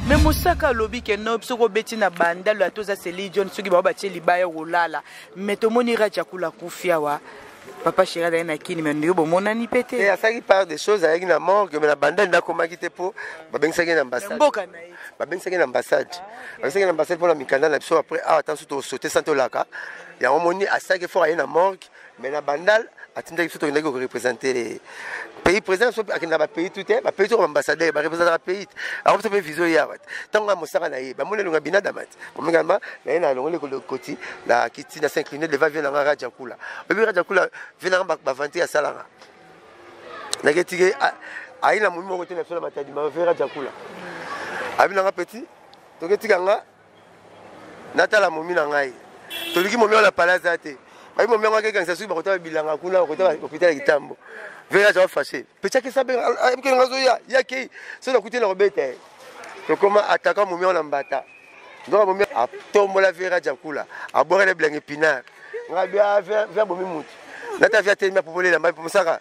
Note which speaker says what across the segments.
Speaker 1: me mosaka alobi ke no soki obeti na bandalo ata oza seli john soki bango batie libaya okolala me tomoni raja akula kufi awa papa sheri azali na kini me ndeko bomonani mpe te eh, asalaki part des choses
Speaker 2: ayaki na morgue me na bandali nakomaki te mpo babengisaki ye na ambassade babengisaki
Speaker 1: ye na ambassade
Speaker 2: babengisaki ye na ambassade mpo na mikanda na biso après awa ah, ntanso tosote santi olaka yango moni asalaki effort aye na morgue mais na bandal atindaki biso tokendaki korepresente pays président biso akenda bapays tu te bapays toko baambassadeur barepresentaka pays te ako biso mpe vision ye awa te ntango ya mosaka na ye bamoni elonga binadama te omingama na ye na alongoli koti na kiti na s'incline devant vie nanga raja kula oyebi raja kula vie nanga bavante asalanga nake tike ayi na momi moko te na biso na matadima vie raja kula abi nanga petit toketika nga natala momi na ngai toluki momi wana pala aza te bayi momi yango akekanisa soki bakotala bilanga kuna bakotala hôpital ya kitambo vere aza fache pechaki sabe ayebikeli nga azoya ye akei so nakuti na kobeta ye tokoma ataka momi wana mbata nzoka momi atombola vere ajakula abwaka na bilanga epinare nga bia via bomi mutu nata via telemi apopolela mbai mosaka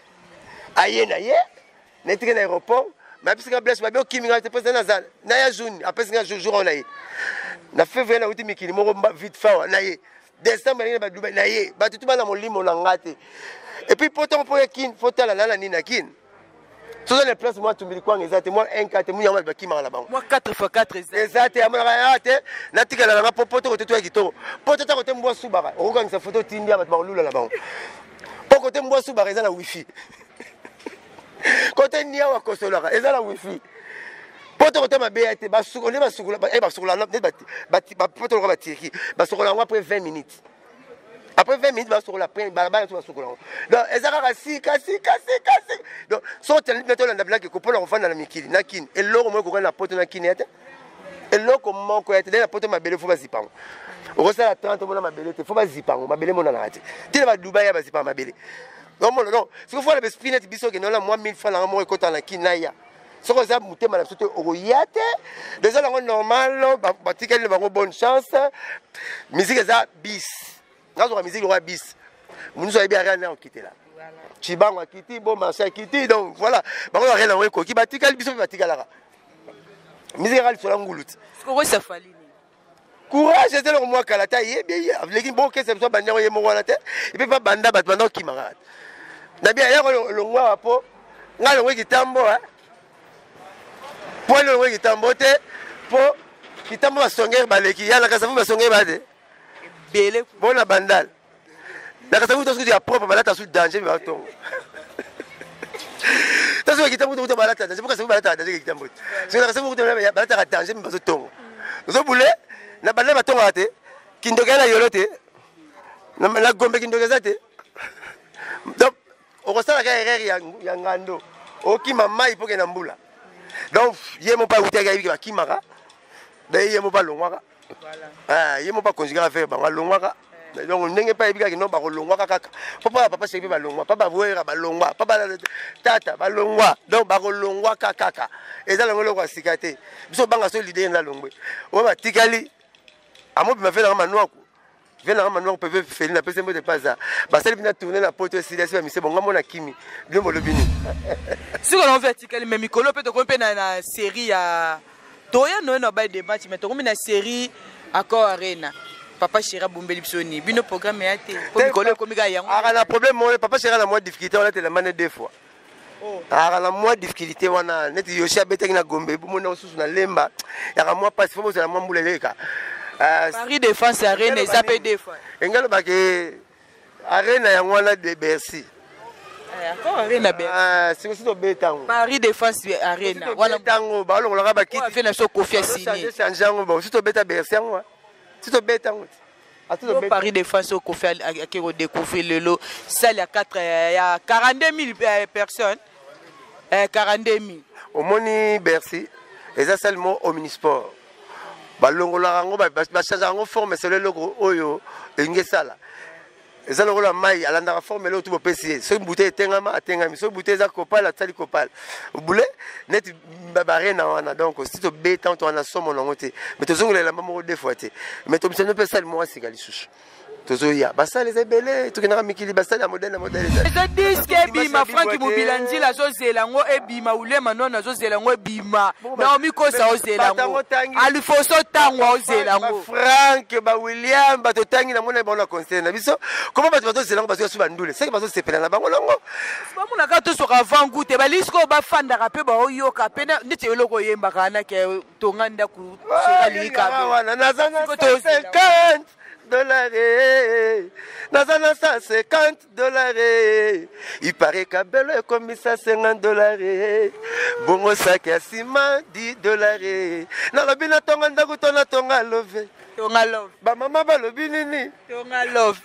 Speaker 2: aye na ye netike na aéroport bayebisi nga blaise babi okimi nga te mposa naza na ya juni apesi nga jour oyo na ye na février nauti mikili moko vite fawa na ye décembre nalingi na badubai na ye bato tu bana molimo na nga te epuis mpo ntango mpo ya kin fo tala nana nini na kin soza na place mwa tumbili kwanga eza te mwa 1 4 te munyama bakimaka na bango mwa 4 fois 4
Speaker 1: eza eza te amonaka ya
Speaker 2: te natikala na nga mpo poto kote toya kitoko mpo tata kote mbwa subaka okokangisa foto otindia bato bakolula na bango po kote mbwa subaka eza na wifi kote niawa kosolaka eza na wifi poto kote mabe ya te basukoli basukula eh, basukula nde poto loka batirki basukola yango après 20 minutes après 20 minutes basokola après balabala to basokola yango donc eza kaka sika sika sika sika donc soki otyali bino tolanda bilaki kopona kofanda na mikili na kini eloko moko ekokani na poto na kini ya te eloko moko ya te na poto mabele fo bazipa yango okosala 30 omona mabele te fo bazipa yango mabele emonanaka te tina badubai ya bazipa mabele omona no soki fo na besprit neti biso okende wana mwa 1000 fa nanga moko ekota na kin naya soki oza motema na biso te okoya te deja nango normal batikali na bango bonne chance miziki eza bis nazwaka miziki lokola bis monusu ayebi ariane na okitela cibango akiti bo marché akiti donc voilà bango bakenda yango ekoki batikali biso mpe batikalaka miziki kaka lisola ngulu ti
Speaker 1: courage
Speaker 2: eza eloko mwa kala ta ye bie leki bokesa biso abandi yango ye moko wana te epe mpe abanda bato banda okima kaka na bia yako longwa wa mpo ngai longwe kitambo mpo longwe kitambo te mpo kitambo basongere baleki yanakasa fo basongere bade ebele bona bandal nakasa kuta sukuti ya propre balata su danger ba tongo tasu ekita kuta kuta balata danger pokasa balata danger ekita mbote soki nakasa kuta balata ka danger mi bazo tongo ozo bule na bandal batongo te kindoka na yolo te na gombe kindoka eza te donc okosala kaka erreur ya, ya ngando okima mai mpo kenda mbula donc ye moko awutaki ayebiki bakimaka daye ye moko balongwaka ah, ye moko bakonzi kaka fere bango alongwaka eh. donc ndenge mpe ayebi kaka no bakolongwaka kaka mpo mpa papa seki mpe balongwa mpa bawera balongwa mpa tata balongwa donc bakolongwaka kaka eza longo eloko ya sika te biso banga so lide enda longwe oyo batikali amobima fela nga manuaku vie nanga manuango mpe vepe feli napesi mbote mpe aza basali bina tourne na poto esili asi bamise bonga mona kimi bino bolobi nini sikoyo
Speaker 1: naovi atikali me mikolo mpe tokomi mpe na série ya toya noye na baye dematch me tokomi na série accord arena papa chéri abombeli biso nini bino programme ya te po mikolo ekomi kaka yango aka na problème moko papa chéri
Speaker 2: na mwa difficulté olatela mane deux fois Oh. ayaka na mwa difficulté wana neti yoshi abetaki na gombe bomoni na mosusu na lemba yaka mwa mpasi fo bozala mwa mbula eleka euh, paris
Speaker 1: défense ya rene eza mpe defa enga alobaka
Speaker 2: arena yango wana de bercy eh, ah,
Speaker 1: sikosi tobetango
Speaker 2: paris défense
Speaker 1: arena wana tango
Speaker 2: balongolaka bakiti na biso kofi asini
Speaker 1: change yango bo si
Speaker 2: tobeta bercy yango si tobeta yango Yo Paris
Speaker 1: de France au Kofi ake ko découvrir lelo salle ya 4 euh, ya 42000 euh, personnes
Speaker 2: euh
Speaker 1: 42000 omoni
Speaker 2: Bercy eza salle mo
Speaker 1: omnisport
Speaker 2: balongolaka yango bachangeaka yango forme selo eloko oyo elingi esala eza lokola mai alandaka formule oyo tu bopesi ye soki bute etengama atengami soki bute eza kopale atisali kopale bule neti barena wana donc si tobeta to wana somo nango te mai tozongela elamba moko de fois te mai tomisano mpe esali moko asika lisusu tozoya basale eza ebele tokendaka mikili basale ya modele na modele eza diske
Speaker 1: ebima franki mobila nzila azozela yango ebima ulema nona azozela yango ebima naomi kosa ozela yango alifoso ntango aozela yango frank bawilliam
Speaker 2: bato otangi namona ye bango na concert na biso koma bato bazozela yango bazoya so bandule seke bazosepela na bango longo bamonaka tosoka
Speaker 1: avant gout te balisi koyo bafandaka mpe baoyoka mpe neti eloko oyembaka wana ke tonga ndako wana
Speaker 2: naza na 50 dolare naza na 150 dolare ipare kabelo ekomisa 50 dolare bongo saki ya nsima 10 dolare nalobi natonga ndako to natonga love tonga love
Speaker 1: bamama balobi
Speaker 2: nini tonga love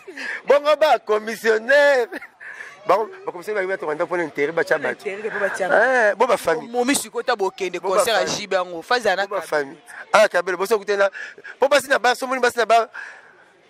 Speaker 1: bongo
Speaker 2: bakomissionnaire bakomisio bayebi batonga ndako mpona intere batya bato eh, bo bafamille momi sikoyo ta bokende
Speaker 1: concert ya jibe yango fazi anabafamille ah
Speaker 2: kabelo boso kutena mpo basi na ba somoni basi na ba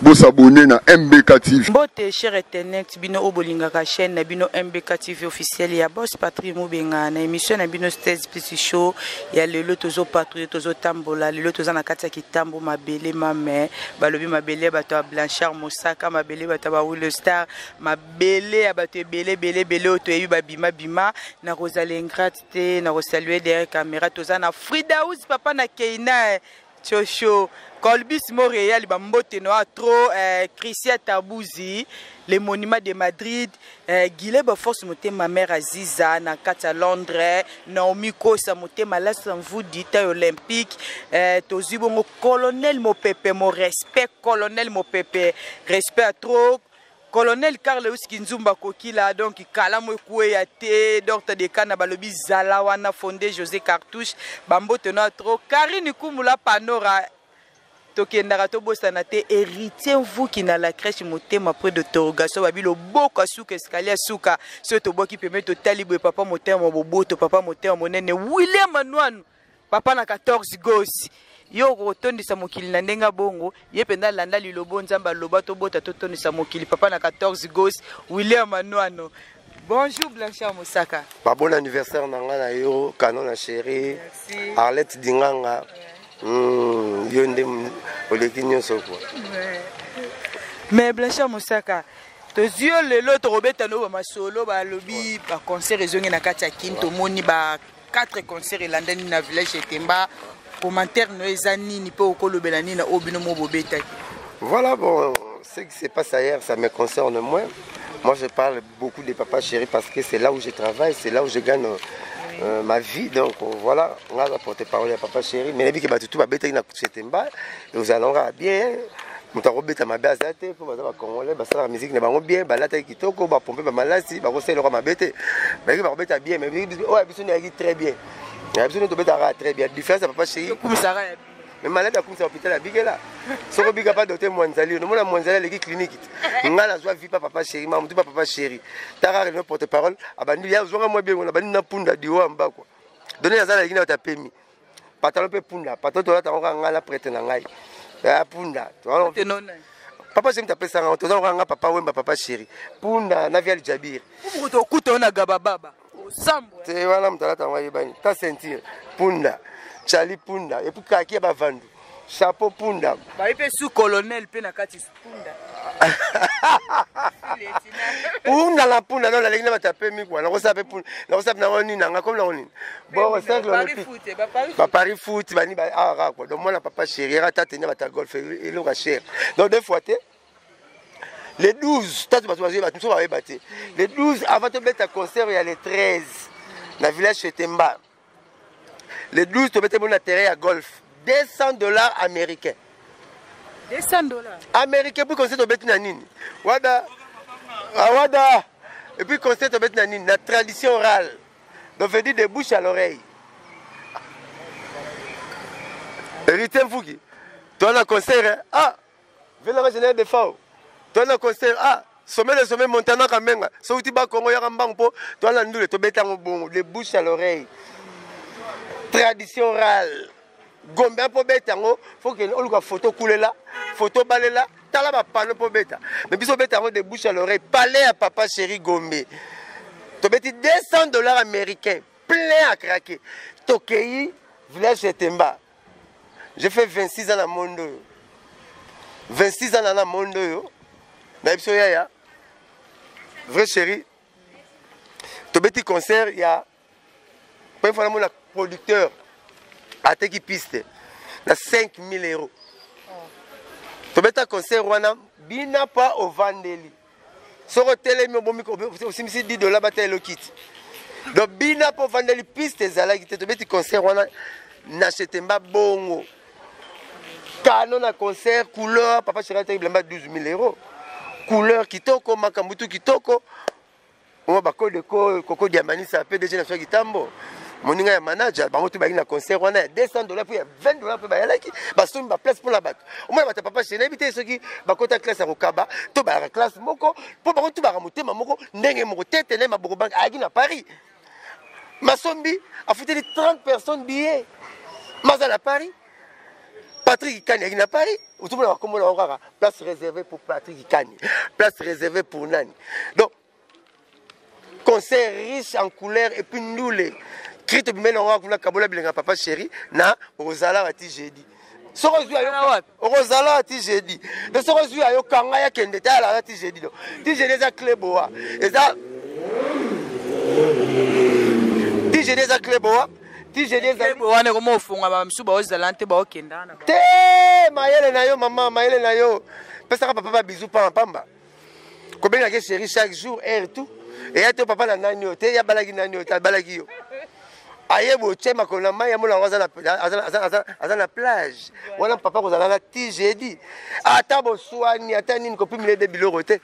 Speaker 3: Bo s'abonner na MBK TV. Mbote cher Etenet,
Speaker 1: bino oyo bolingaka chaîne na bino MBK TV officiel ya Boss Patrick Mubenga na émission na bino Stairs Plus Show ya lelo tozo patrouiller tozo tambola lelo toza na kati ya kitambo mabele mame balobi mabele ya bato ya Blanchard Mosaka mabele bato ya ba Will Star mabele ya bato ebele ebele ebele oyo toyebi babima bima na kozala ingrate te na kosalue derrière camera toza na Fridaus papa na Keina Tshosho Colbis Montreal ba mbote noa trop eh, Christian Tabuzi le monument de Madrid eh, Gile ba force motema mère Aziza na kati ya Londres Naomi Kosa motema Las Mvudi taille olympique eh, tozwi bongo colonel mopepe mon respect colonel mopepe respect à trop Colonel Carleus Kinzumba Kokila donc kalamu ekueya te Docteur Dekana balobi zala wana fonde Jose Cartouche bambote na trop Karine Kumula Panora tokendaka tobosana te héritier mvuki na la crèche motema près de torgaso babi loboko asuka escalier asuka soki tobwaki pembe totali boye papa motema boboto papa motema monene william anuanu papa na 14 gosi yo okotondisa mokili na ndenge bongo ye mpenza alanda lilobo nzambe aloba tobota totondisa mokili papa na 14 gosi william anwano Bonjour Blanchard Moussaka. Ba bon anniversaire
Speaker 2: na nga na yo, Canon na chérie. Merci. Arlette Dinganga. Ouais. Mm, yo nde oleki nyonso quoi. Ouais.
Speaker 1: Mais Blanchard Moussaka, tozwi yo lelo tokobeta no bamasolo balobi baconcert ezongi na kati ya kin tomoni ba 4 concert elandani na village ya temba commentaire no eza nini mpe okolobela nini na oyo bino mo bobetaki voilà bon
Speaker 2: ce qui se passe ailleurs ça me concerne moins moi je parle beaucoup de papa chéri parce que c'est là où je travaille c'est là où je gagne euh, ma vie donc euh, voilà nga aza porte parole ya papa chéri mais nayebi ke bato tu babetaki na kutu ya temba ozala kaka bien moto akobeta mabe aza te mpo baza bacongolais basalaka miziki na bango bien balataki kitoko bapompe bamalasi bakosala eloko mabe te bayaki bakobeta bien oyo biso nayaki très bien na biso nde tobetaka très bien différence ya papa chei mais malade akumisa hôpital ya bigela soko bika pa dote mwanzali onomona mwanzali aleki kliniki te ngai nazwa vi pa papa chéri ma motu pa papa chéri takaka lino porte parole abandi ya ozwanga mwa biengo nabandi na punda diwa mbakwa doni naza naleki na yo tapemi patalo mpe punda patalo tolata yango kaka ngai na prete na ngai ya punda papa jemi tapesa ngai toza kaka ngai papa wemba papa sheri punda na vial jabir tokuta yo na
Speaker 1: gabababa te
Speaker 2: wana moto alata yango ayebani ta ceinture punda chali punda epuis kaki ya bavandu chapeau punda bayi mpe su
Speaker 1: colonel mpe na kati punda
Speaker 2: punda na punda no nalingi na bato ya pemi kua nakosala mpe punda nakosala mpe nango nini nanga komi nango nini boko cercle olympique bapari foot bani awa kaka kua donc mwana papa chéri yaka tata enya bato ya golf eloko ya chéri donc deux fois te le 12 tatu bato bazoyeba te mosusu bayeba te le 12 avant tobeta concert ya le 13 na village chetemba le 12 tobete bo na terrain ya golf 200 dollars américain
Speaker 1: 200 dollars américain
Speaker 2: puis conseil tobeti na nini wada ah, wada et puis conseil tobeti na nini na tradition orale donc veut dire de bouche à l'oreille héritier mfuki toa na concert hein? ah Vela nga général Defao. Toi na concert ah sommet de sommet Montana Kamenga. So uti ba Congo yaka mbangu po toi na ndule to beta ngo bongo de bouche à l'oreille. Tradition orale. Gombe po beta ngo faut que oluka photo kulela, photo balela, tala ba panneau po beta. Mais biso beta ngo de bouche à l'oreille. Palais à papa chéri Gombe. To beti 200 dollars américains plein à craquer. Tokeyi village Temba. je fais 26 ans na monde oyo 26 ans na na monde oyo na biso yaya vrai chéri tobeti concert ya première fois namona producteur ateki piste na 5000 euros tobeta concert wana bina pa ovandeli soki otelemi obomi osimbisi 10 dola bata elokiti donc bina mpo vandeli piste ezalaki te tobeti concert wana na chetemba bongo kano na concert couleur papa cheri ataki bilamba 12 000 euro couleur kitoko makambo tu kitoko Bongo ba code ko koko diambanisa PDG na soki tambo. moninga ya manager bango tu balingi na concert wana ya 200 dollars mpe ya 20 dollars mpe bayalaki basombi baplace mpo na bato omona bato ya papa shene yebi te soki bakota classe ya kokaba to bayaka classe moko mpo bango tu baka motema moko ndenge moko tete na ye maboko bange ayaki na paris masombi afuteli 30 personnes billet maza na paris Patrick Kani à na Paris tout monde bakombo na encore place réservée pour Patrick Kani place réservée pour Nani donc concert riche en couleur et puis ndule krite bimene yango kuna kabola bilenga papa chéri na okozalaka ti jeudi soki ozwi ayo okozalaka ti jeudi to soki ozwi ayo kanga ya kende te alaka ti jeudi do ti jeudi eza cle boa eza ti jeudi eza cle boa ti jeli ezali Kebo wana
Speaker 1: ekoma ofonga ba misusu baozala nte baokenda wana te
Speaker 2: mayele na yo mama mayele na yo pesaka papa ba bizu pamba pamba kobengaka ye chéri chaque jour heure tout eya te papa na nani oyo te yabalaki nani oyo te abalaki yo aye botie makolo na mai yamona yango aza na- aza- aza- aza- aza na plage wana papa kozala na ti jedi ata boswani ata nini kopimile de biloko te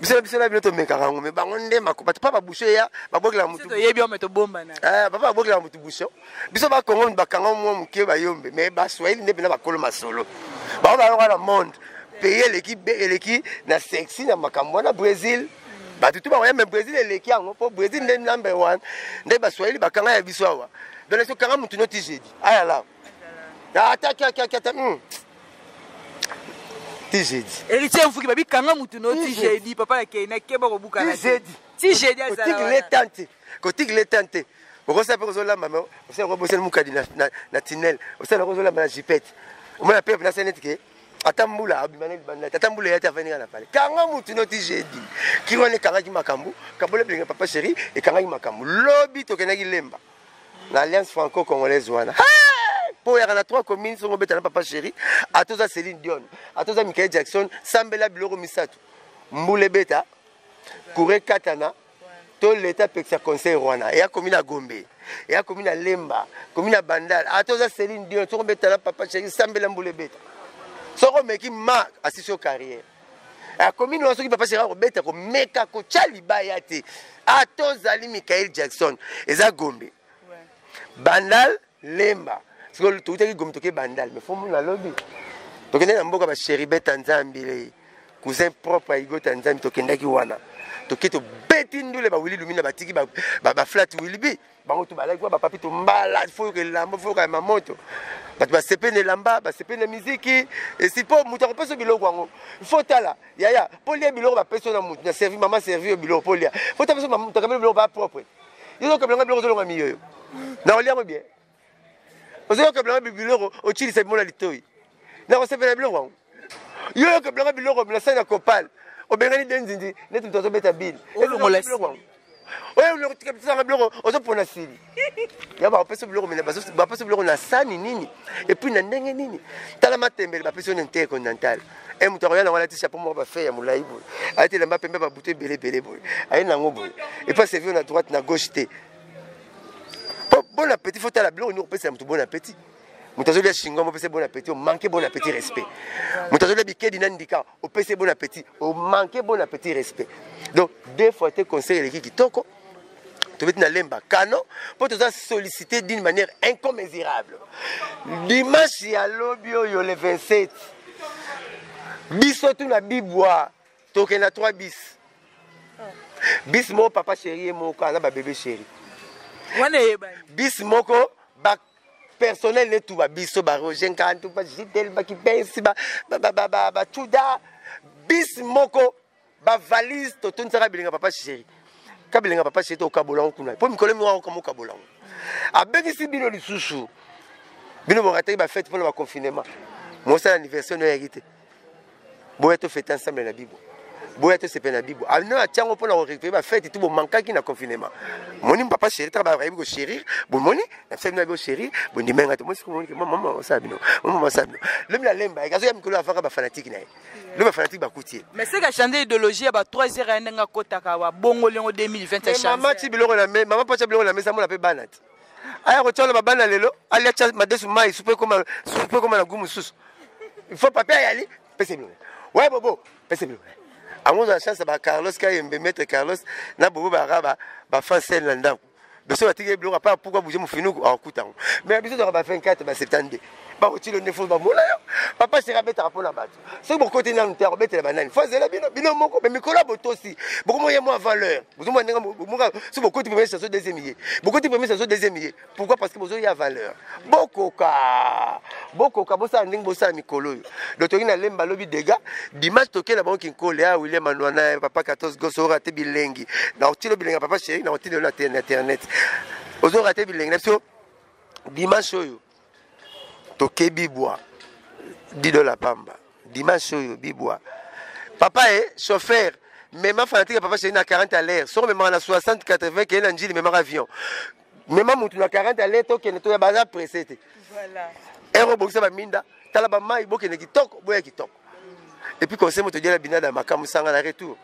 Speaker 2: biso na biso na bino tomekaka yango me bango nde bato pa babusho eya babwakela motupapa eh, babwakela
Speaker 1: motu
Speaker 2: busho biso bakongo bakanga mwa moke bayombe me baswahili nde mpena bakolo masolo bango bayonga na monde pays eleki eleki na sexi na makambo wana brésil bato tu bango ya me brésil eleki yango mpo brésil nde number one nde baswahili bakanga ya biso awa donc esokanga motu noti jeudi ayala ata ah, kiakiakiata hmm. tizedi héritier mfuki babi kanga
Speaker 1: mutu no tizedi papa na kei nakeba kobukana tizedi tizedi azalakotikile tan te kotikile
Speaker 2: tan te okosala mpe kozolamba me osala yango bosali mokadi na tunnel osala yango ozolamba na jipete omona mpe nasali neti ke ata mbula abima na libanda te ata mbula eyati afandi nga na pale kanga mutu noti jedi kiri wana ekangaki makambo kabola bilinga papa sheri ekangaki makambo lobi tokendaki lemba na alliance franco congolaise wana mpo oyaka na 3 commune soki obeta na papa chéri ata oza céline dion ata oza michael jackson sambela biloko misato mbula ebeta kura ekatana to leta apekisa conseil wana eya komi na gombe eya komi na lemba komi na bandal ata oza céline dion soki obeta na papa chéri sambela mbula ebeta soki omeki ma asisi yo carrière akomi noa soki papa shera kobeta komeka kotya libaya te ata ozali michael jackson eza gombe bandal lemba sikoyo toutaki gombe toke bandal me fo mona lobi tokendaki na mboka basheri beta nzambi lei cousin propre ya igota nzambi tokendaki wana toke tobeti ndule bawili lumina batiki baflat wilbi bango tu balaki ba papi tu mbala foyoka elamba foyoka ya mamoto bato basepeli na elamba basepeli na miziki esi mpo moto akopesa biloko yango fo tala yaya mpo lia biloko bapesi na moto na servi mama servi yo biloko mpo lia fo tapeso moto akabeli biloko ba propre yo okabelanga biloko ozolonga miyoyo na olia yango bien ozoyoka bilanga biloko ocilisa bimola litoi nakosepela biloko yango yo yoka bilanga biloko bilasani na copal obengani benzindi neti
Speaker 1: moto
Speaker 2: azobeta bile oyotikabitanga biloko ozopona sili ya bapesi biloko mina bapesi biloko na sani nini epuis na ndenge nini tala matembele bapesi yo na intee continental e moto akoya nango alati chapeau moko bafe ya molai boye alati elamba pembe babutu ebele ebele boye aye nango boye epuis asevi yo na droite na gauche te po bon appétit faut tala biloko nini okopesela moto bon appétit moto azolia shingo mopesa bon appétit omanke bon appétit respect moto azolia bikedi na ndika opesa bon appétit omanke bon appétit respect donc deux fois te conseil eleki kitoko tobeti na lemba kano mpo toza sollicité d'une manière incommesurable dimanche ya lobi oyo le 27 biso tuna bibwa tokende na 3 bis bis moko papa chéri ye moko aza babebe chéri wana eyebani bis moko ba personnel ne tuba biso ba roger nkantu ba jidel bakibensi bacuda bis moko bavalise totonisaka bilinga papa chéri kabilinga papa chéri tokabola yango kuna mpo mikolo moko akoka mokabola yango abengisi bino lisusu bino bokataki bafete mpona baconfinement mosala anniversaire noyaki te boya to fete ensemble na bibo boya to sepela na bibo ano ah, atiango mpo na korecupere bafete ti bomankaki na confinement moni papa chéri taka bayebi kochérir bomoni na fete na bibo chérir bondimai ngai te mosi komoni ke mama osala bino mama osala bino lobi na lemba yeke azoya mikolo avaka bafanatike na ye lobi bafanatike bakuti ye mais seke achande idéologie
Speaker 1: ya ba 3 heures ya ndenge akotaka wa bongo liongo 2020 mama ti biloko na
Speaker 2: mama mpo atia biloko na mesa mona mpe bana ti aya kotya wana babana lelo alia tya madesu mai supu ekoma supu ekoma na gu mosusu il faut papier ayali pese bilonga waye bobo pese bilonga yango na chance ba carlos kayembe maître carlos na bobo baraba bafrancel na ndako biso batiki biloko apa pourkua bouge mofinuku akuta yango mais biso toka ba 24 ba 72 bakotilo nde fo bamona yo papa sera abetaka mpo na bato soki bokoti nanu te akobetela banani fo azela bino bino moko me mikolo ya botosi bokomo ye mwa valeur bozomona ndenge moka soki bokoti premier saso deuxième ye bokoti premier saso deuxième ye pourquoi parce que bozoya valeur bokoka bokoka bosala ndenge bosala mikolo oyo donc toki na lemba lobi dega dimanche tokela bango kinkole ya ah, william anwana papa 14 goso orate bilengi na otilo bilengi papa chéri na otilo na internet ozorate bilengi na biso dimanche oyo toke bibwa dido la pamba dimanche oyo bibwa papa e chauffeur mema fanatique ya papa chéri na 40 à l'air soko memaka na 60 80 keye na njili memaka avion mema motu na 40 à l'air tokende toya baza presse te ere obongisa baminda tala bamai bokende kitoko boya kitoko epuis conseil moto odiala binada makambo sanga na retour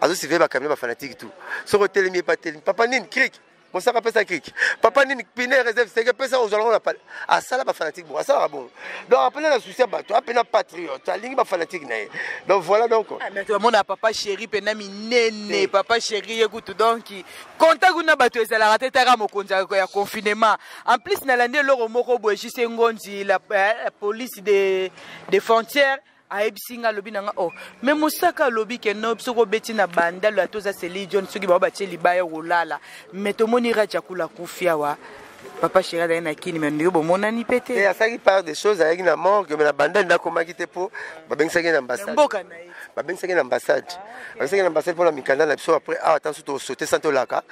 Speaker 2: azosiveye bacamion bafanatique tout soki otelemi epa telemi papa nini krike mosaka pesa kiki papa nini pine reserve seke pesa ozalaka na pale asala bafanatique bongo asalaka bongo donc apena na souci ya bato apena patriote alingi bafanatique na ye donc voilà donc ah, mais tomona papa
Speaker 1: chéri pena minene papa chéri ye kutu donc contact kuna bato ezalaka te taka mokonzi ya confinement en plus nalandi eloko moko boye jise ngonzi la eh, police de, de frontière ayebisi nga alobi na nga oh me mosaka alobi ke no soki obeti na bandalo ata oza seli john soki bango batie libaya okolala me tomoni raja kula kufi awa papa sheri azali na kini me ndeko bomonani mpe te eh, asalaki part de choses
Speaker 2: ayaki na morgue me na bandali nakomaki te mpo babengisaki na ambassade babengisaki na ambassade babengisaki na ambassade mpo na mikanda na biso après awa ah, ntanso tosote santi olaka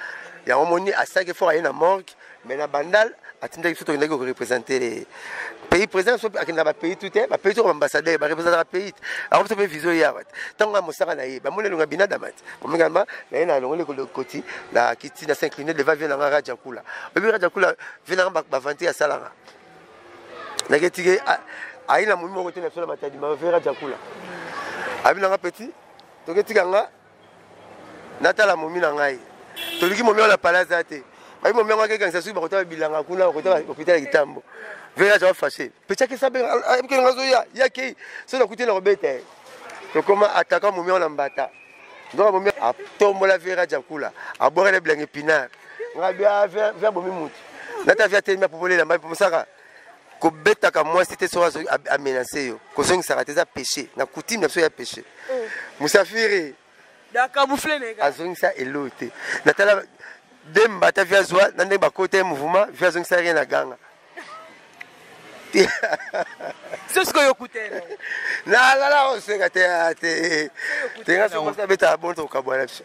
Speaker 2: yango moni asalaki fort aye na morgue mais na bandal atindaki biso tokendaki korepresente pays président biso akenda bapays tu te bapays toko baambassadeur barepresentaka pays te ako biso mpe vision ye awa te ntango ya mosaka na ye bamoni elonga binadama te omingama na ye na alongoli koti na kiti na s'incline devant vie nanga raja kula oyebi raja kula vie nanga bavante asalanga nake tike ayi na momi moko te na biso na matadima vie raja kula abi nanga petit toketika nga natala momi na ngai toluki momi wana pala aza te bayi momi yango akekanisa soki bakotala bilanga kuna bakotala hôpital ya kitambo vere aza fache pechaki sabe ayebikeli nga zoya ye akei so nakuti na kobeta ye tokoma ataka momi wana mbata nzoka momi atombola vere ajakula abwakana bilanga epinare nga bia via bomi mutu nata via telemi apopolela mbai mosaka kobetaka mwasi te soki amenace yo kozongisaka te eza péché na coutume na biso ya péché oh. musafiri
Speaker 1: azongisa eloi te
Speaker 2: natala demba ata vi azwa na ndenge bakota ye mouvement vi azongisa rien na ganga
Speaker 1: nalala
Speaker 2: oseka te te tenga sokosi abetaka bonto kokabwana biso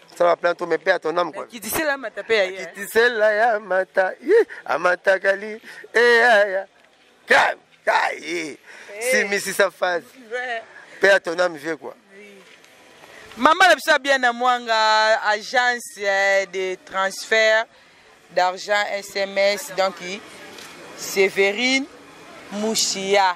Speaker 2: sala plein to mepe à ton âme quoi kitisela mata pe ya
Speaker 1: kitisela ya
Speaker 2: mata yi amata kali e ya ya kai kai si misi sa phase pe à ton âme vieux quoi
Speaker 1: Maman na biso bien na mwanga agence eh, de transfert d'argent SMS donc Séverine Mouchia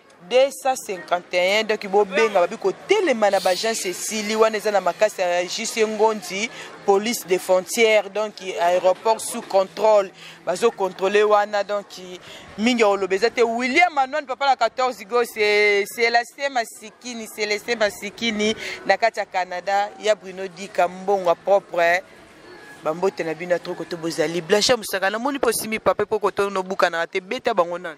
Speaker 1: 251 donc bobenga babi kotelema na baagence esili wana eza na makasi ya jc ngondi police de frontière donc aéroport sous contrôle bazocontrôle wana donc mingi akoloba eza te william anwan papa na 14 go celestin masikini celestin masikini na kati ya canada ya bruno dika mbongo propre bambote na bino atoko to bozali blanche mosaka namoni mpo osimi pape mpo kotonobukanaka te beta bango nani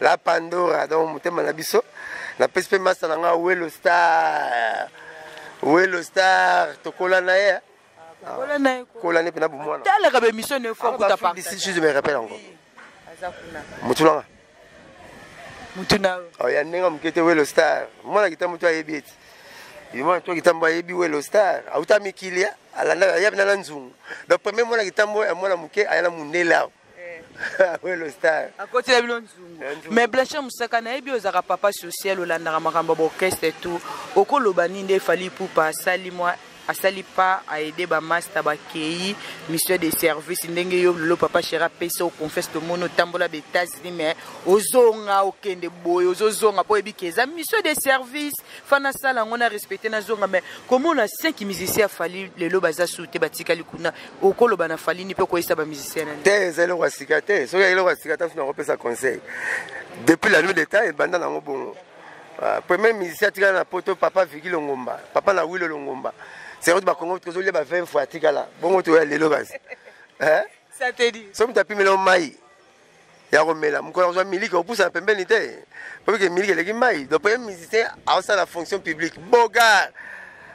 Speaker 2: la pandora donc motema na biso napesi mpe masta na ngai welo star welo star tokola na ye kola ne mpe na bomwanatalaka bemission ne fo
Speaker 1: kuta parcisi me rappelle yango
Speaker 2: motu nanga
Speaker 1: motu na oh, ya ndenge
Speaker 2: moke te welo star mwana kita motu ayebi ete yomwana to kitambo ayebi welo star auta mikili alandaka ya bina na nzungu donc premier mwana kitambo ya mwana moke aya na mondele awa akotela bino
Speaker 1: nzungu mais blanche mosaka nayebi ozalaka papa social olandaka makambo ya baorchestre tout okoloba nini nde efali ipupa asali mwa asali pa aide bamasta bakei mission de service ndenge yo lelo papa shera apesa oconfiance tomoni otambola ba états-unis mais ozonga okende boye ozozonga mpo oyebiki eza mission de service fa nasala yango na respecte nazonga mais komona 5 musicien afali lelo baza su te batikali kuna okoloba na falini mpe okoyesa bamusicien na te eza eloko ya sika te
Speaker 2: soki eloko ya sika tanso nakopesa conseil depuis la nuit d'état ebanda nango bongo ah, premier musicien atikala na poto papa viki longomba papa na wilo longomba sekoto bakongo tozolia ba 20 fois atikala bongo toya lelo kasi
Speaker 1: soki moto apimela mai
Speaker 2: ya komela mokolo akozwa miliki opusa na pembeni te poke miliki eleki mai donc premier musicien aosala fonction publique bogar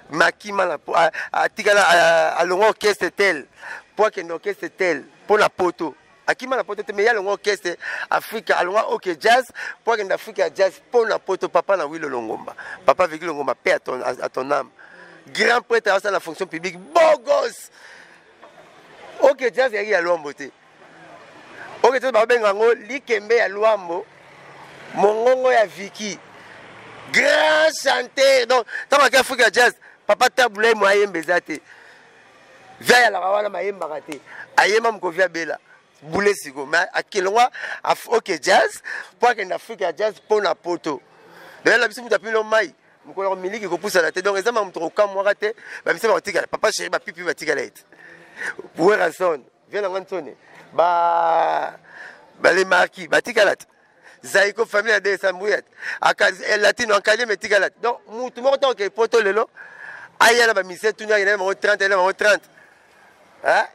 Speaker 2: makimala atikala alongwa orchestre tel mpo akende orchestre tel mpo na poto akima na poto te me ye alongwa orchestre afrika alongwa oke jazz mpo akende afrika ya jazz mpo na poto papa na wilo longomba papa viki longomba mpe a ton ame grand prêtre aosala na fonction publique bogos oke jazz yaki ya lwambo te oke te babenga yango likembe ya lwambo mongongo ya viki grand chanteur donc ntango ake afrika ya jazz papa tabulai mo ayemba eza te via yalaka wana mayembaka te ayemba mokovi abela bule siko me akelongwa oke jazz mpo akende afrika ya jazz mpo na poto lelo biso moto apilo mai mokolo miliki kopusana te donc eza makambo tokokamwaka te bamisa bakotikala papa sheri bapipi batikala ete werrason vie na nga nsoni ba balemaki batikala te zaiko famille ya desambuyat eh, latino ankalieme etikala te donc mutu moko ntango kei poto lelo aya na bamisie tuni akenda bango 30 ayenda bango 30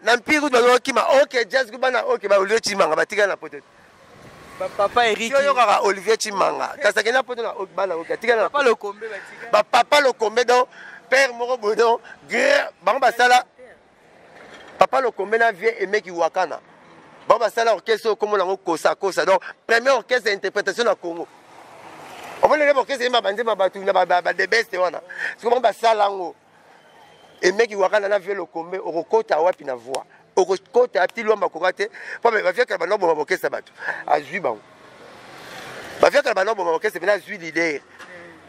Speaker 2: na mpiri kutu bazo okima ok jazz ku bana ok ba olivier chimanga batikala na poto papa
Speaker 1: eriki oyokaka olivier
Speaker 2: chimanga kasi akenda poto na bana oki atikala na
Speaker 1: bapapa lokombe
Speaker 2: donc père moko boye donc bango basala Papa Lokombe na vieux Aimé Kiwakana. Ba basala orchestre oyo kombo nango kosa kosa. Donc premier orchestre ya interprétation na Congo. Omoni lebe orchestre yemba banze ba batu na ba ba de best wana. Siko bango basala yango. Aimé Kiwakana na vieux Lokombe okokota wapi na voix. Okokota ti lwamba koka te. Papa ba vieux kala bando boma orchestre bato. Azui bango. baviaka na banao boma orchestre mpena azwi lider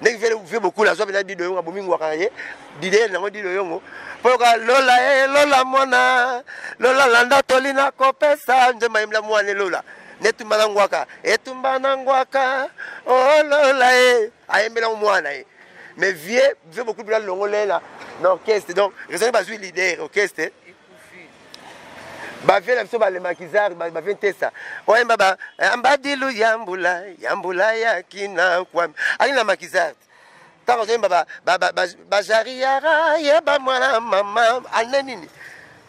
Speaker 2: ndenge vele vie bokula azwa mpena dido yongo abomi ngwaka na ye dider nango dido yongo mpo yoka lola e eh, lola mwana lola landa toli na kopesa nzemba yembla mwana elola netumba na ngwaka etumba na ngwaka olola oh, e ayembelango mwana ye mais vie vie bokulu mpena longolela na orchestre donc raisonne bazwi lider orchestre bavie na biso balemakizari bavie ntesa oyemba ba eh, ambadilu ya mbula ya mbula ya kina kwami ali na makizari ntango azoyemba bajariyara yeba mwana mama ane nini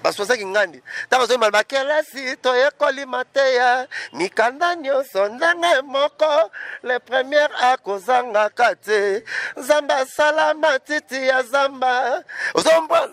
Speaker 2: baswazaki ngandi ntango azoyemba bakelasi toyekoli mateya mikanda nyonso ndenge moko le premier akozangaka te nzambe asala matiti ya zamba ozombwana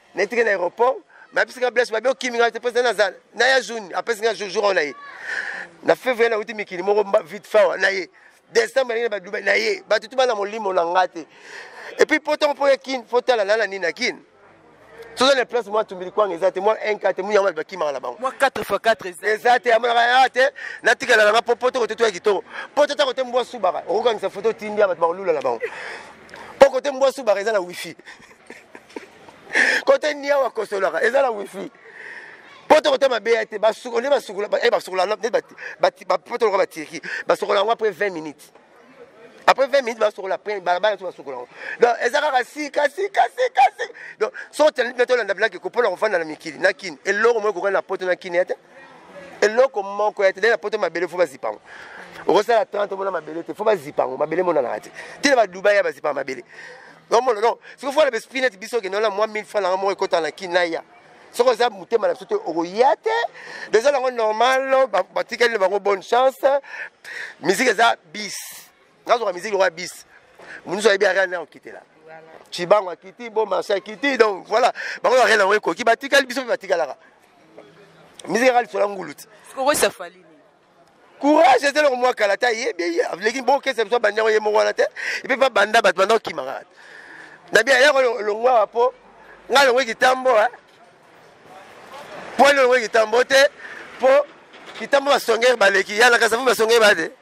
Speaker 2: netike na aéroport bayebisi nga blaise babi okimi nga te mposa naza na ya juni apesi nga jour oyo na ye na février nauti mikili moko vite fawa na ye décembre nalingi na badubai na ye bato tu bana molimo na nga te epuis mpo ntango mpo ya kin fo tala nana nini na kin soza na place mwa tumbili kwanga eza te mwa 1 4 te munyama bakimaka na bango mwa 4 fois 4 eza eza
Speaker 1: te amonaka ya
Speaker 2: te natikala nanga mpo poto kote toya kitoko poto ta kote mbwa subaka okokangisa foto otindia bato bakolula na bango mpo kote mbwa subaka eza na wifi kote niawa kosolaka eza na wifi poto kote mabe ya te basuko nde basukola eh, basukola nde poto loka batirki basukola yango après 20 minutes après 20 minutes basokola après balabala so basokola yango donc eza kaka sika sika sika sika donc soki otandi mpe tolanda bilaki kopona kofanda na mikili na kini eloko moko ekokani na poto na kini ya te eloko moko ya te na poto mabele fo bazipa yango okosala 30 omona mabele te fo bazipa yango mabele emonanaka te tina badubai ya bazipa mabele omona no soki fo na besprit neti biso okende wana mwa 1000 fa nanga moko ekota na kin naya soki oza motema na biso te okoya te eza nango normal batikali na bango bonne chance miziki eza bis nazwaka miziki lokola bisi monusu ayebi ariane na okitela cibango akiti bo marché akiti donc voilà bango bakenda yango ekoki batikali biso mpe batikalaka miziki kaka lisola ngulu ti
Speaker 1: courage
Speaker 2: eza eloko mwa kala te ayebi ye aleki bokesa biso abandi yango ye moko wana te epe mpe abanda bato banda okima kaka na bia yako longwa wa mpo ngai longwe kitambo mpo longwe kitambo te mpo kitambo basongere baleki yanakasa fo basongere bade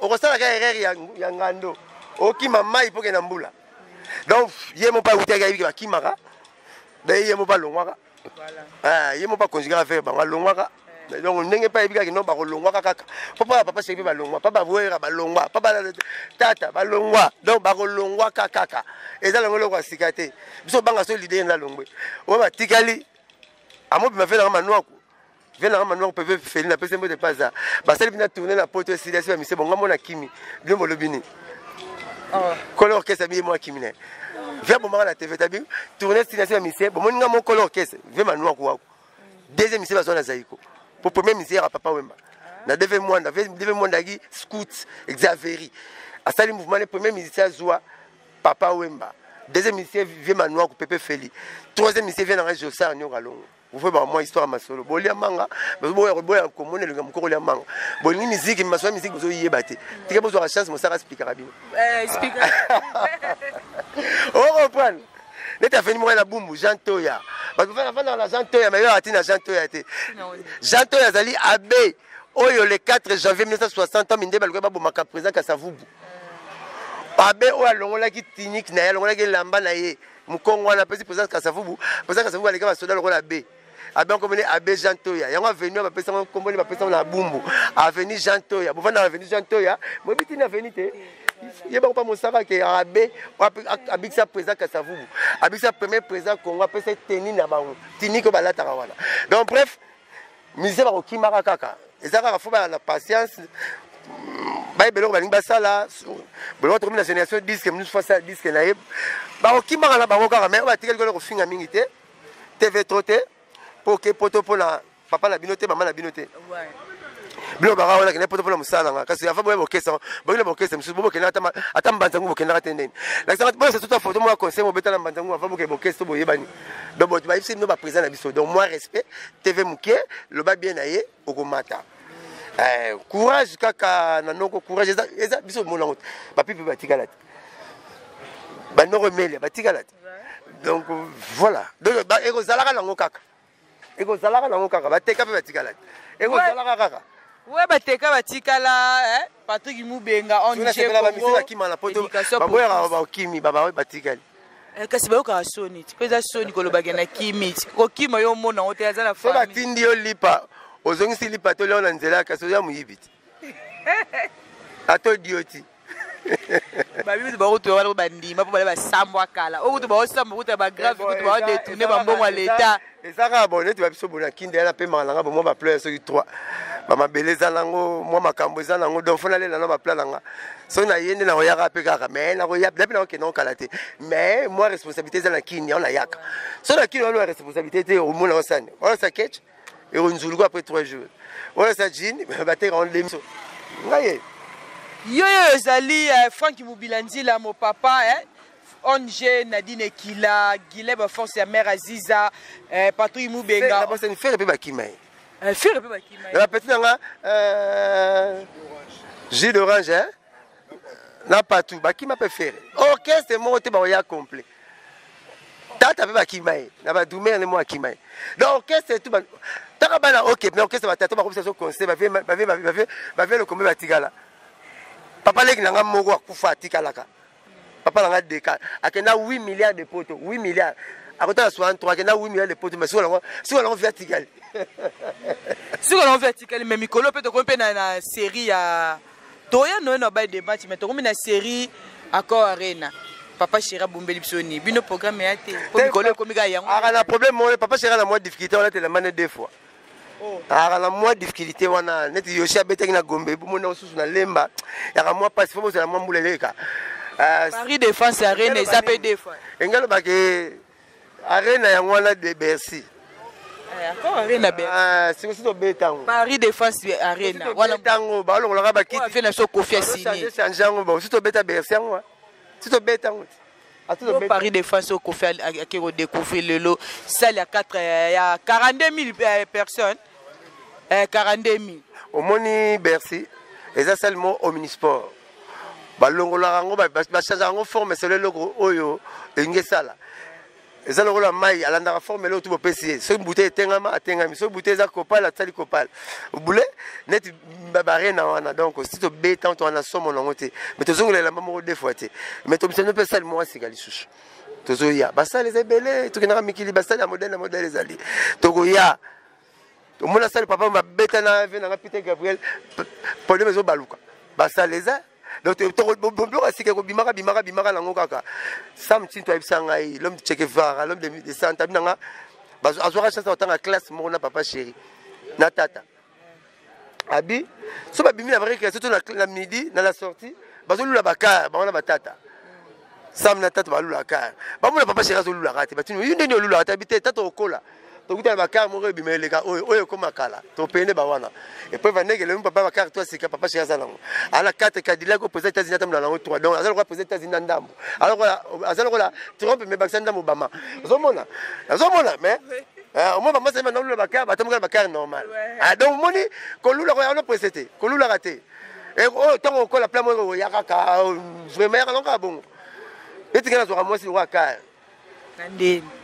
Speaker 2: okosala kaka erreur ya, ya ngando okima mai mpo kenda mbula donc ye moko awutaki ayebiki bakimaka donc ye moko alongwaka ah, ye moko akonzi kaka affaire bango alongwaka eh. donc ndenge mpe ayebi kaka no bakolongwaka kaka mpo mpaka papa seki mpe balongwa mpa bawera balongwa mpa tata balongwa donc bakolongwaka kaka eza longo eloko ya sika te biso banga so lide enda longwe oyo batikali amobima mpe nanga manuaku vie nanga manuango mpe vepe feli napesi mbote mpe aza basali bina tourne na poto esili asi bamise bonga mona kimi bino bolobi nini oh. kolo orchestre biye mwa kimi naye vie abomaka na tv tabi tourne esili asi bamise bomoni nga mo kolo orchestre vie manuango wako deuxième mise bazwa na zaiko po premier mise yaka papa wemba na deve mwanda deve mwanda yaki scout exaveri asali mouvement ne premier musicien azwa papa wemba deuxième musicien vie manuango pepe feli troisième musicien vie nanga josar niokalongo Vous pouvez moi histoire masolo. Bolia manga, vous boya boya komona le mukoko lia manga. Bolingi musique, masolo musique vous oyeba te. Tika bozo la chance mosaka speaker abino. Eh speaker. Oh comprendre. Neta fini moi la bumbu Jean Toya. Ba ko fana fana la Jean Toya mais yo atina Jean Toya te. Jean Toya zali abbé oyo le 4 janvier 1960 ans minde balikuwa babomaka président kasavubu abe oyo alongolaki tiniki na ye alongolaki elamba na ye mukongo wana apesi president kasavubu president kasavubu aleka basoda lokola abe abe yango komene abe jean toya yango avenu bapesa yango nkombo nde bapesa yango na bumbu avenu jean toya bovanda avenu jean toya boyebi tini avenu te ye bango mpa mosaka ke abe abikisa président kasavubu abikisa premier président congo apesa teni na bango tinike balataka wana donc bref musicien bakokimaka kaka eza kaka fo baya na patience bayeba eloko balingi basala boloko tokomi na génération diske mosusu fo asala diske na ye bakokimaka na bango kaka mai batikali kolo kofinga mingi te tv tro te mpo oke poto mpo na papa na bino te mama na bino te bino baka wana kende poto mpona mosala nanga kasi afa boya bokesa bokende bokesa mosusu bo bokendaka ata mbanza ngu bokendaka te ndeni lakisaka boyesa tuta foto mwa conseil mobetala mbanza ngu afa bokende bokesa to boyebani donc bato bayebisi bino baprésident na biso donc mwa respect TV mukie loba bien na ye okomata. Eh, courage kaka na noko courage eza eza biso mona ngote. Ba pipi ba tikala. Ba noko melia ba tikala. Donc voilà. Donc ba eko zalaka na ngo kaka. Eko zalaka na ngo kaka ba teka pe ba tikala. Eko zalaka kaka. we bateka
Speaker 1: batikala eh? patrick mubenga onbango
Speaker 2: yaka bakimi batikali Eh, kasi bayokaka
Speaker 1: soni ti mpo eza soni kolobake na kimi ti kokima yo omona yango te aza na fo batindi yo lipa
Speaker 2: ozongisi lipa to leo na nzela kasi oza moyibi ti atodi yo ti
Speaker 1: babibi bakutu wana bandima mpo bale basambwa kala okutu baosamba okuta bagrave kutu baodetourne bambongo ya leta eza kaka bo neti
Speaker 2: babiso bo na kinda yana mpe maka na nga bo mwa bapleur soki 3 bamabele eza nango mwa makambo eza nango donc fo nalela na bapla na nga soki naye nde nakoyaka mpe kaka mai nakoya mpe nakokenda kokala te mai mwa responsabilité eza na kini yango nayaka so na kini wana ya responsabilité te omona osani olasa ketch ekonzuluku après 3 jours olasa jine bateka wana demiso ngaye yo
Speaker 1: yo ezali eh, franki mobila nzila mopapa eh? Ong Nadine Ekila, Guilain ba force ya mère Aziza, eh, patrouille Mubenga. Ba sani faire pe ba kima
Speaker 2: ye. Eh, faire pe ba
Speaker 1: kima ye. La petite nga
Speaker 2: euh jus d'orange hein. Na patou ba kima pe faire. Orchestre moko te ba ya complet. Tata pe ba kima ye. Na ba dumer ne mo akima ye. Donc orchestre tout ba taka bana OK, mais orchestre ba tata ba komisa so conseil ba vie ba vie ba vie ba vie le combat ba tigala. Papa leki na nga moko akufa atikalaka. papa na nga deka akenda 8 milliards de poto 8 milliards akotala 63 akenda 8 milliards de poto mais sikoyo nango sikoyo nango via tikali
Speaker 1: sikoyo nango via tikali mais mikolo mpe tokomi mpe na, na série ya toya noye na baye debatch mais tokomi na série accord arena papa chéri abombeli biso nini bino programme ya te po mikolo ekomi kaka yango aka na problème moko papa
Speaker 2: chéri na mwa difficulté wana telemane deux fois Oh. aka na mwa difficulté wana neti yoshi abetaki na gombe bomoni na mosusu na lemba yaka mwa mpasi fo bozala mwa mbula eleka euh, paris
Speaker 1: défense ya arena eza mpe defa enga alobaki
Speaker 2: arena yango wana de bercy eh, ah,
Speaker 1: sikosi
Speaker 2: tobetango paris défense
Speaker 1: arena wana tango
Speaker 2: balongolaka bakiti na biso kofi asini
Speaker 1: change yango bo si tobeta
Speaker 2: bercy yango si tobeta yango Yo Paris
Speaker 1: de France au Kofi ake ko découvrir lelo salle ya 4 euh, ya 42000 euh, personnes euh 42000 omoni
Speaker 2: Bercy eza salle mo omnisport balongolaka yango bachangeaka yango forme selo eloko oyo elingi esala eza lokola mai alandaka formule oyo tu bopesi ye soki bute etengama atengami soki bute eza kopale atisali kopale bule neti barena wana donc si tobeta to wana somo nango te mais tozongola elamba moko de fois te mais tobisano mpe esali moko asika lisusu tozoya basale eza ebele tokendaka mikili basale ya modele na modele ezali tokoya omona sali papa babeta na ve nanga peter gabriel problème ezobaluka basala eza donc bobioko asika ekobimaka bimaka bimaka nango kaka sam tinto ayebisa ngai lome chekevara lome de santa abi nanga azwaka chance akotanga classe moko na papa chéri na tata abi so babimi na vrai création to na midi na la sortie bazolula bakar bango na batata sam na tata balula kar bamona papa sheri azolulaka te batini yo ndeni olulaka te abi te tata okola tokuta na bakar moko ebima eleka oyo oyo ekoma kala topende bawana epuis vandeke lelo papa bakar to asika papa sheri aza nango ana kate kadilaki o président états-unis atambola nango trois donc aza lokola président états-unis na ndambo aza lokola trump me bakisa ndambo obama ozomona nazomona mais Ah, omoi bamasi ayeba naolula bakare batamboka na bakare normal ah, donc omoni kolulaka yango prese te kolulaka te eh, oyo ntango okola pla moko oya kaka vraimen yaka nokaka bongo etikela azwaka mwasi lokola kare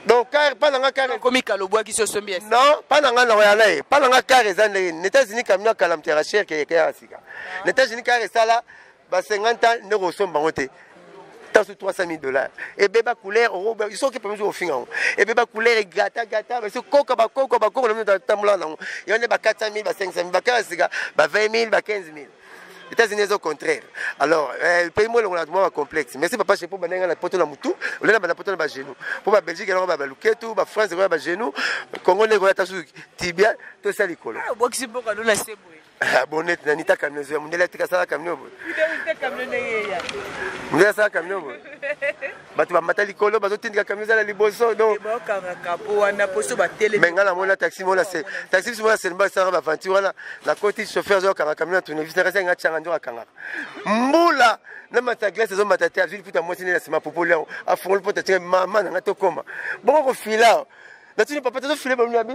Speaker 2: donc kare mpa na nga karekomikala obwaki so sombi
Speaker 1: non mpa na nga nakoya
Speaker 2: na ye mpa na nga kare eza ndenge na états-unis camion akala mterachère keyekeyaka sika na états-unis kare esala ba 50 ans ndenge osomba yango te tasu 300 000 dollars ebeba couleur soki pembe soki ofinga yango ebeba couleur egrata grata basi koka bakoko bakoko na mino tambola nango yango nde ba 400 000 ba 500 000 bakala sika ba 20 000 ba 15 000 États-Unis au contraire. Alors, euh, pays moi on a moins complexe. Merci papa chez pour banenga la poto la mutu, on est là la poto la genou. Pour la Belgique alors ba luketu, ba France ba genou, Congo ne gola tasu tibia, tout ça likolo. Ah, boxi boka do na
Speaker 1: sebwe. Ah, bonete na nita
Speaker 2: camion zoya mundele atika asala camion boye mundele asala camion boye bato bamata likolo bazotindika camion ezala liboso donme ngai namona taxi mona se taxi biso mona selmba esalaka baventure wana nakoti chauffeur azokanga camion na tournevis nakasi yango atyanga nzoka akangaka mbula na mata glace ezomata te azwi liputa mwasi nde na nsima popoli yango afongoli mpo tatyanga mama na ngai tokoma bongo kofila natuni papa tozofile bamina bi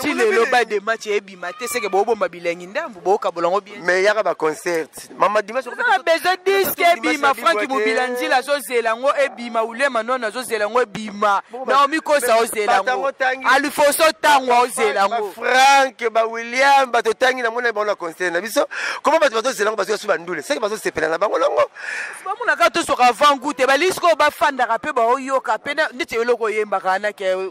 Speaker 2: ti lelo ba de match ebima te seke bobomba bilengi ndambu bokabola yango bien mais yaka ba concert mama dimanche na besoin disque ebima franki mobila nzila azozela yango ebima ulema nono azozela yango ebima naomi kosa ozela yango alifoso ntango aozela yango frank ba william bato otangi na mona bango na concert na biso koma bato bazozela yango bazoya su bandule seke bazosepela na bango longo bamonaka tosoka avant goute balisi koyo bafandaka mpe baoyoka mpe neti eloko oyembaka anake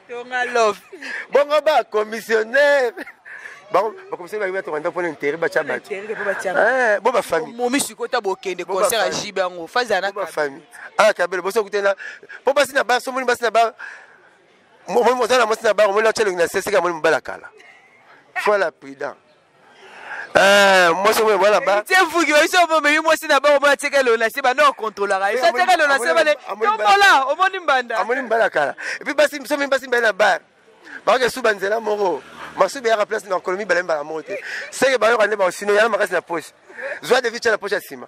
Speaker 2: tonga love bongo ba commissionnaire bakomisani bayebi batonga ndako mpona intere batya bato eh, bo bafamille momi sikoyo ta bokende concert ya jibe yango fazi ana bafamille ana ah, kabelo boso kutena mpo basi na ba somoni basi na ba oza na mwasi na bango omoni atya elongi na seseka amoni mobala kala fola prudent Eh, mwasi oyo bana ba tie vuki ba biso bo memi mwasi na bango ba tieke lo na se bana controlaka ye tieke lo na se bale tombola omoni mbanda amoni mbanda kala et puis basi biso mimi basi mbala bar ba ke suba nzela moko masuba ya place na kolomi bala mbala moko te seke ba yo kande ba sino ya makasi na poche zwa de vicha na poche ya sima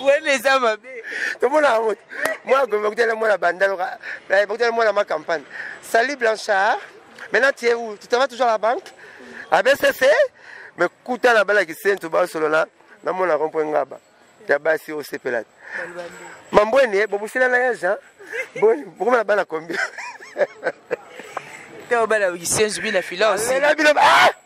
Speaker 2: wana eza mabe tomona yango te mwana gome bakutana mwana bandalo eh, bakutana mwana ma campagne salut blanchard maintenant tu es où tu travailles toujours à la banque à bcc mais kuta na balaki sentu basolola namona rompo ngaba ya basi osepela te mambwene bobusela na yage boni bokomona bana combien te obala kisenzu bina filao sela bino ah!